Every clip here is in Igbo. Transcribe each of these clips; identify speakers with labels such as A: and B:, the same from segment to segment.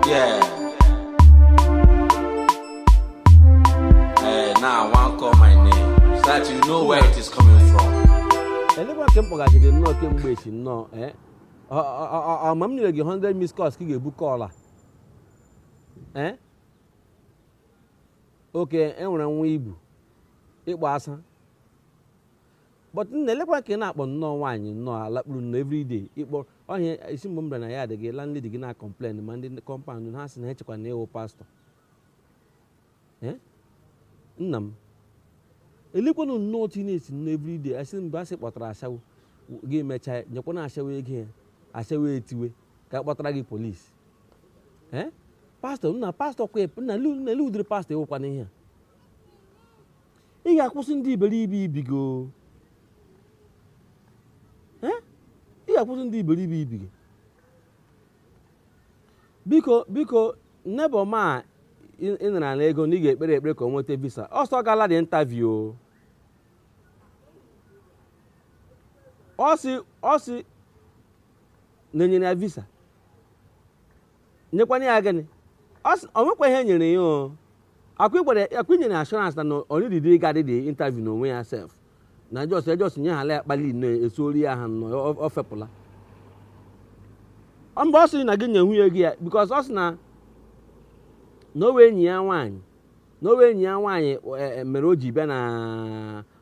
A: Yeah. Hey, now I want call my name so that you know where it is coming from. elekwa
B: ka m kpọgachiri nnọọ kemgbe echi nnọọ eh? Ọ- ọ- ọ- ọ- ọ ma m nyere gị 100 miss calls ka ị ga-ebu call a Eh? okay e nwere nwa ibu ịkpọ asa but nna elekwa ka ị na-akpọ nnọọ nwaanyị nnọọ alakpuru nnọọ everyday ịkpọ ọhịa isi mgbe m bịara na ya adịghị landlady gị na-akọmplen ma ndị kọmpaụnd ha sị na echekwa na ị wụ pastọ Eh? nna m elekwanụ nnọọ otu ị na-esi nnọọ everyday asị mgbe asị kpọtara ashawo gị mechaa nyekwana ashawo ego ya ashawo etiwe ka kpọtara gị polisi Eh? pastọ nna pastọ kwa nna lu nna lu ụdịrị pastọ ị wụkwanụ ihe a ị ga-akwụsị ndụ iberibe i biga ị ga-akwụsị ndụ iberibe i biga biko biko neighbour m a ị nara na ego na ị ga-ekpere ekpere ka o nweta visa ọ sị ọ gala the interview ọ sị na e nyere ya visa nyekwana ya gịnị ọ nwekwa ihe e nyere ya ọ kwa i nyere assurance na ọ needighị ịga the the interview n'onwe ya sef na just e just nye ha ala ya kpali nnọọ esuori ya ha nnọọ ọ fepụla mba ọ sị na gị nye nwunye gị ya because ọ sị na na ọ wụ enyi ya nwaanyị na ọ wụ enyi ya nwaanyị mere o ji bịa na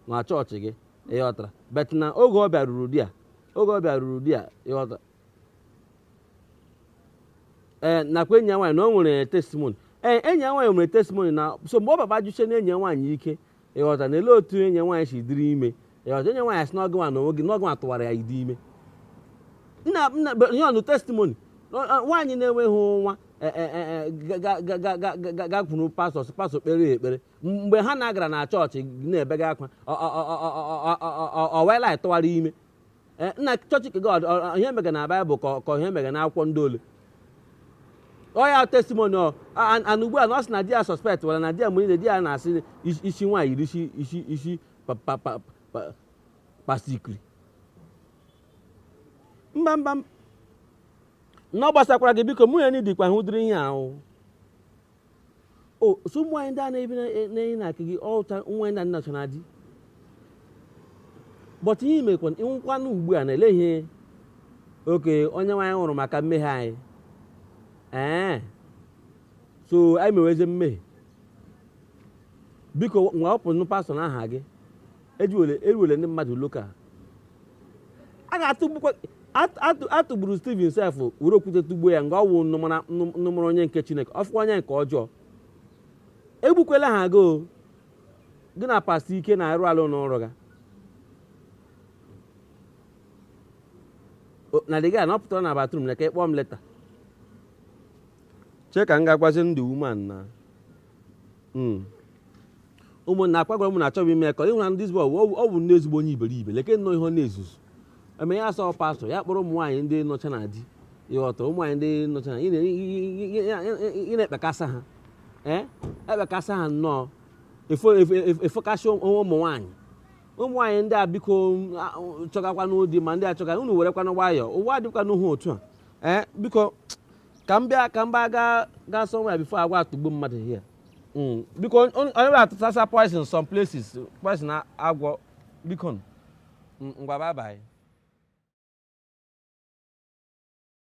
B: na chọọchị gị ị ghọtara but now oge ọ bịaruru di ya oge ọ bịaruru di ya ị ghọtara ee nakwa enyi ya nwaanyị na o nwere testimoni ee enyi ya nwaanyị nwere testimoni now so mgbe ọ baba jụsie na enyi ya nwaanyị ike ị ghọta na ele otu enyi ya nwaanyị si dịrị ime ị ghọta enyi ya nwaanyị sị na ọ gịnwa na onwe gị na ọ gịnwa tụwara ya the ime nna nna nye ọnụ testimoni nwaanyị na-enweghị nwa gakwuru pastọ sị pastọ kpeere ya ekpere mgbe Hana gara na chọọchị na-ebega akwa ọ wụ Eli tụwara ime Eh, nna chọọchị nke God ọ- ọ- ihe mega na baịbụl ka ọ- ka ihe mega na akwụkwọ ndị ole ọ ya testimoni ọ a- a- na ugbu a na ọ sị na di ya suspectwala na di ya mgbe niile di ya na-asị isi- isi nwaanyị yiri isi isi isi pa- pa- pa- pa- pasikri mba mba m- na ọ gbasakwara gị biko mụ ya na idikwa hụ ụdịrị ihe ahụ o so ụmụ nwaanyị ndị a na-ebi na-enye na aka gị ọcha ụmụ nwaanyị ndị a na-achọ na di but ihe i mekwa ịnwụkwanụ ugbu a na-ele ihe okay Onyenwe anyị nwụrụ maka mmehie anyị ee so anyị meweze mmehie biko nwa wepụnụ pastọ na aha gị eruwele ndị mmadụ loka a ga-atụgbukwa atụgburu Steven sef were okwute tụgbuo ya nga ọ wụ unu mara onye nke Chineke ọfụkwa onye nke ọjọọ egbukwela ha gọọ gị na pastọ ike na-arụ alụ n'ọrụ ga na dịga na ọ pụtara na bathroom na ka ịkpọọ m later chee ka m ga-agwazi ndị women na hmm. ụmụnna agwakwara m na achọghị ime ka ịhụra ndị zbọ ọ bụ ndị ezigbo onye iberibe leke nnọọ ihe ọ na-ezuzu eme ya asọ pastọ ya kpọrọ ụmụ nwaanyị ndị nọcha na di ịghọta ụmụ nwaanyị ndị nọcha na ị na-ekpekasa ha ee ekpekasa ha nnọọ efokasị ụmụ nwaanyị ụmụ nwaanyị ndị a biko chọgakwanụ di ma ndị a chọga unu werekwanụ nwayọọ ụwa adịkwanụhụ otu a ee biko ka m bịa ka m baa gaa gaa somewhere before agwọ atagbuo mmadụ here Mm, biko on- on- onye atụsasa poison some places poison a- agwọ bikonụ. Mm, ngwa bye bye